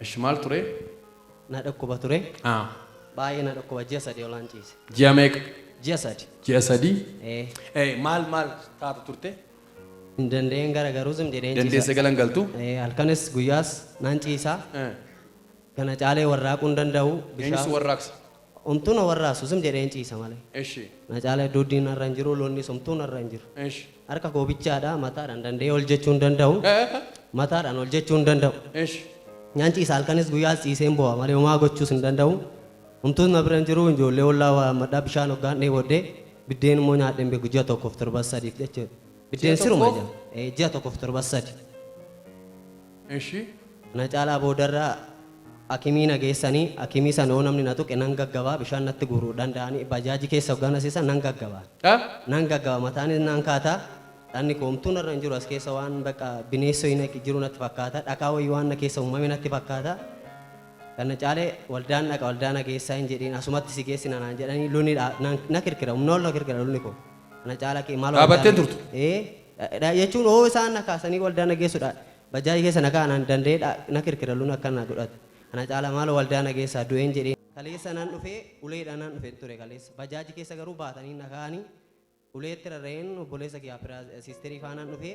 Eshi maal ture? Na dhukkuba ture. Haa. Baay'ee na dhukkuba ji'a sadii olaan ciise. Ji'a meeqa? Ji'a sadi. Ji'a sadii? Ee. Ee maal maal taata turte? Hin danda'een gara garuu zim jedheen ciisa. Dandeesse galan galtu? Ee halkanis guyyaas nan ciisa. Ee. Kana caalee warraaquu hin danda'u. Eenyutu warraaqsa? Homtuu na warraasu zim jedheen ciisa malee. Eshi. Na caala hedduu diin narra hin jiru lonnis homtuu narra hin jiru. Eshi. Harka koo bichaadha mataadhaan danda'ee ol jechuu hin danda'u. Eh. Mataadhaan ol jechuu hin danda'u. Eshi. Nyan ciisa halkanis guyyaas ciiseen boo'a malee homaa gochuus hin danda'u. Homtuus na bira hin jiru ijoollee ollaa waammadha bishaan hoggaan dheebodhe biddeen immoo nyaadhe hin beeku ji'a tokkoof torbas sadiif jechuudha. Biddeen siruma tokkoof? jira. Eh, Ji'a tokkoof torban sadi. Eshi. Kana caalaa boodarra akimii na geessanii akimii sana yoo namni na tuqe nan gaggabaa bishaan natti guuruu danda'anii bajaajii keessa hoggaa na seesan nan gaggabaa. Dha? Nan gaggaba mataanis nan kaata. Dhanni koo homtuu narra hin jiru as keessa waan bakka bineessa wayii natti jiru natti fakkaata. Dhakaa wayii waan na keessa uumame natti fakkaata. Kana caalee waldaan dhaqa waldaa na geessaa hin jedhiin asumatti si geessina naan jedhanii lolli dha- na- na kirkira humna ol na kirkira lolli koo. Ana caalaa kee maal waldaa Dhaabattee na turte. ee dha- dha- jechuun hoo isaan na kaasanii waldaa na geessudha bajaajii keessa na kaa'an an danda'ee dha- na kirkiraluun akka na godhata ana caalaa maal waldaa na geessaa du'een jedhee kaleessa nan dhufee uleedha nan dhufeen ture kaleessa bajaajii keessa garuu baatanii na kaa'anii uleetti rarra'een obboleessa kiyyaa firaa siisterii faanaan dhufee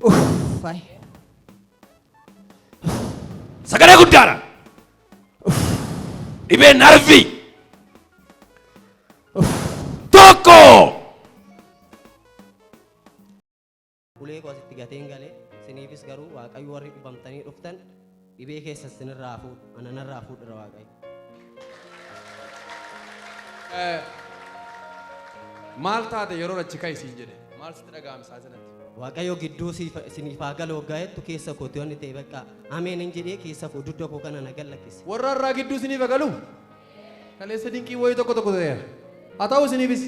Uffay. Sagalee guddaadhaan. Dhibee narvii. Tokko. Ulee koo asitti gateen gale. Isiniifis garuu Waaqayyo warri dhibamtanii dhuftan dhibee keessa isinirraa haa fuudhu. Ana narraa fuudhira Waaqayyo. Eh, Maal taate yeroo achi ka'e siin jedhe? Maal sitti dhaga'ame isaa sanatti? Waaqayyo gidduu siif- isiniif haa galu waggaa jettu keessa kooti wanni ta'e bakka ameen hin jedhee keessa koo dugda koo kana nagan lakkise. Warra irraa gidduu isiniif haa galu? Kaleessa dinqiin wayii tokko tokko ta'eera. Haa ta'u isiniifis.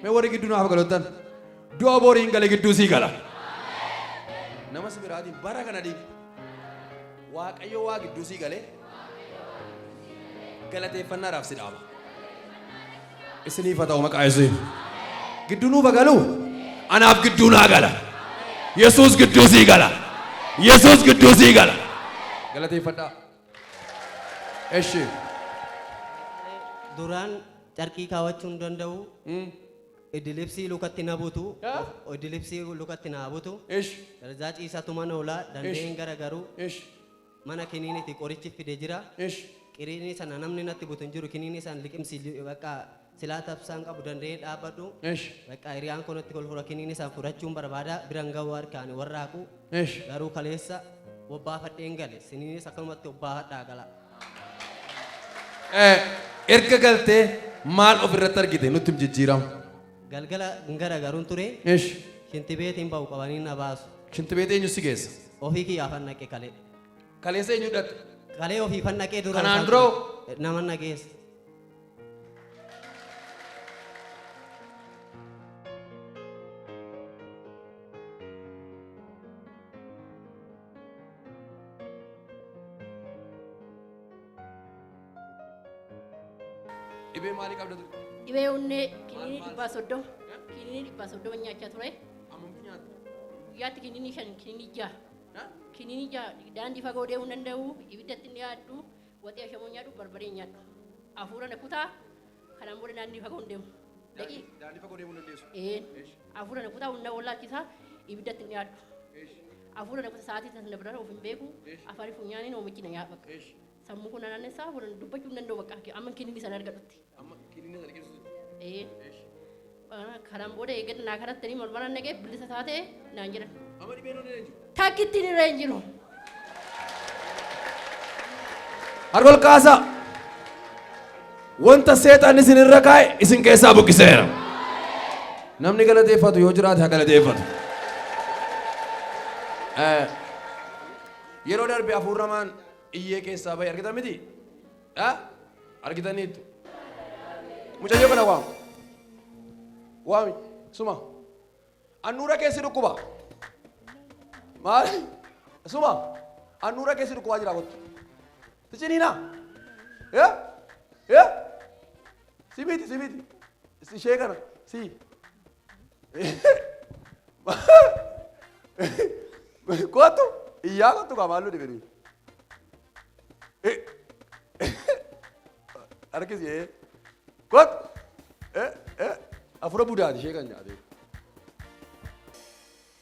Mee warri gidduu naaf galottan. Du'a boriin gale gidduu sii gala. Nama si biraatiin bara kana diin. Waaqayyo waa gidduu sii galee. Galateeffannaadhaaf si dhaaba. Isiniif haa ta'u maqaa Yesuusiin. Gidduu nuuf haa galu. Anaaf gidduu naa gala. Yesuus gidduu sii gala. Yesuus gidduu sii gala. Galateeffadhaa. Eshi. Duraan carqii kaawachuu hin danda'u. Idilibsii lukatti na butu. Ah. Idilibsii lukatti na butu. Eshi. Darzaa ciisaa tuman oolaa Ish. dandeen garagaruu Eshi. mana kiniiniti qorichi fide jira. Eshi. Qiriinii sana namni natti butu hin jiru kiniinii sana liqimsi li- bakka Silaa tabsaan qabu danda'ee dhaabbadhu. Esh. Bakka hiriyaan koo natti kolfu rakiniin isaan fudhachuun barbaada biran ga'uu harkaan warraaqu. Esh. Garuu kaleessa bobbaafadheen gale siniinis akkanumatti bobbaafadhaa gala. Eh, Erga galtee maal ofirratti argite nutti him jijjiirama. Galgala hin garagaruun ture Esh. shinti beetiin ba'u qabanii na baasu. Shinti beetee eenyu si geessa? Ofii kiyyaaf hannaqe kalee. Kaleessa eenyu dhaqxe? Kalee ofii fannaqee dura. Kanaan isaan- dura hoo? Nama nageessa. Dhibee maalii qabda ture? Dhibee onnee kiniinii dhibbaa soddoma. Kiniinii dhibbaa soddoma nyaachaa ture. Ammamtu nyaatta? Guyyaatti kiniinii shan kiniinii jaha. Kiniinii jaha daandii fagoo deemuu hin danda'u. Ibiddatti hin dhiyaadhu. Waxii ashamoo nyaadhu barbaree nyaadhu. Afuura na kutaa kanaan booda naannii fagoo hin deemu. Daqii. Daandii fagoo deemuu dandeessu. Een. Eesh. Afuura na kutaa humna wallaachisaa ibiddatti hin dhiyaadhu. Eesh. Afuura na kutaa sa'aatii sana bira of hin beeku. Eesh. Afaan funyaaniin oomichi na nyaadhu bakka. Eesh. Sammuu kun na naannessaa afuura dubbachuu hin danda'u bakka amma kiniinii sana argadhutti. Amma kiniinii sana keessa jirti. Ee, Eesh. ah, kanaan booda eeggadhu naa kanatti ni morma nan dhagee bilisa taate naan jedhan. Amma dhibeen onnee hin jiru. Takkittiin irra hin jiru. Harka ol kaasaa. Wanta seexaan isin irra kaa'e isin keessaa buqqiseera. Namni galateeffatu yoo jiraate haa galateeffatu. Eh, Yeroo darbe hafuurri hamaan iyyee keessaa bahe argitan miti? dha argitaniittu mucayyoo kana waam waami suma annuura keessi dhukkuba maali suma annuura keessi dhukkubaa jira kottu ticiniina ya ya simiti simiti ishee kana sii Kootu iyyaa kootu kaa maalluu dhibanii. Harkisi ee. Kootu. Afura budaati ishee kan nyaatee.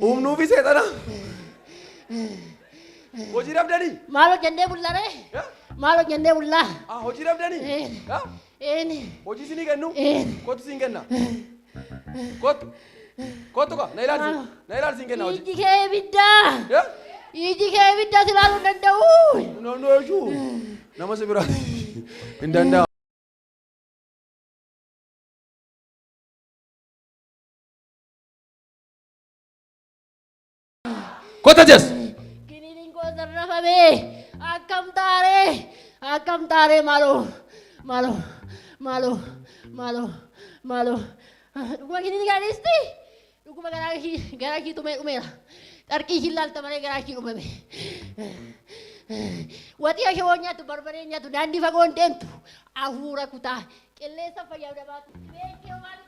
Humnuufi seexana. Hojii dhabdanii? Maal hojjannee bulla ree? Eh? Maal hojjannee bulla? Ah, hojii dhabdanii? Eh. Ah, Eeni. Hojii isinii kennu? Eh. Kottu siin kenna. Kottu. Kottu kaa, na ilaalsi. Maal? Na ilaalsi siin kenna hojii. Iji kee ibidda. Eh? Iji kee ibidda si ilaaluu hin danda'u. Namni hojuu. Nama si biraa. Hin danda'amu. Kota jas. Kiniiniin koo sarrafamee akkam taaree akkam taaree maaloo maaloo maaloo maaloo maaloo dhuguma kiniinii kana dhiisti dhuguma garaa kii garaa kii tumee dhumeera qarqii kii laalta malee garaa kii dhumame waxii akee waan nyaatu barbaree nyaatu daandii fagoon deemtu hafuura kutaa qilleensa fayyadamaa beekee waan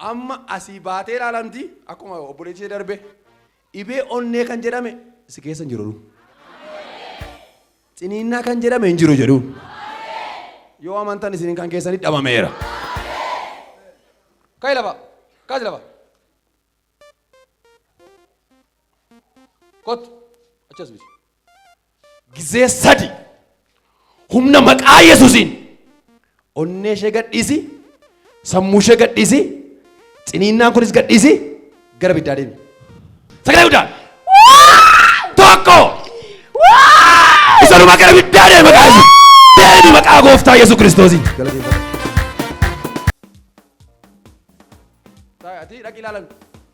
Amma asii baatee ilaalamti akkuma obboleetti ishee darbe dhibee onnee kan jedhame si keessa hin jiru. Ciniinnaa kan jedhame hin jiru jedhu. Yoo amantan isin kan keessanii dhabameera. Ka'i lafa. Kaasi lafa. Kottu. Achi as miti. Gizee sadi humna maqaa Yesuusiin onnee ishee gadhiisi, sammuu ishee gadhiisi, ciniinnaan kunis gadhiisi, gara biddaa deemi. Sagalee guddaan. Tokko. Isanuma gara biddaa deemi maqaa Yesuus. Deemi maqaa gooftaa Yesuus Kiristoosiin. Galateeffadha. Ati dhaqi ilaalan.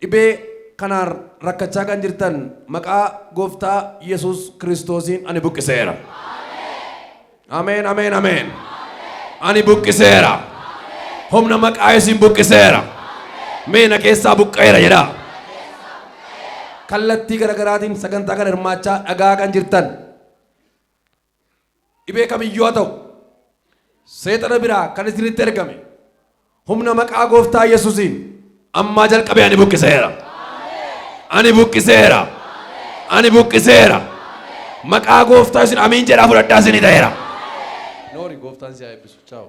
Dhibee kanaan rakkachaa kan jirtan maqaa gooftaa Yesuus Kiristoosiin ani buqqiseera. Ameen ameen ameen. Ani buqqiseera. Humna maqaa Yesuusiin buqqiseera. Mee na keessaa buqqa'eera jedhaa. Kallattii garaagaraatiin sagantaa kana hirmaachaa dhagaa kan jirtan Dhibee kamiyyuu haa ta'u, seexana biraa kan isinitti ergame, humna maqaa gooftaa Yesusiin ammaa jalqabee ani buqqiseera. Ani buqqiseera. Ani buqqiseera. Maqaa gooftaa isin amiin jedhaa fudhadhaa isinii ta'eera. Noori gooftaan si haa eebbisu. Chaawu.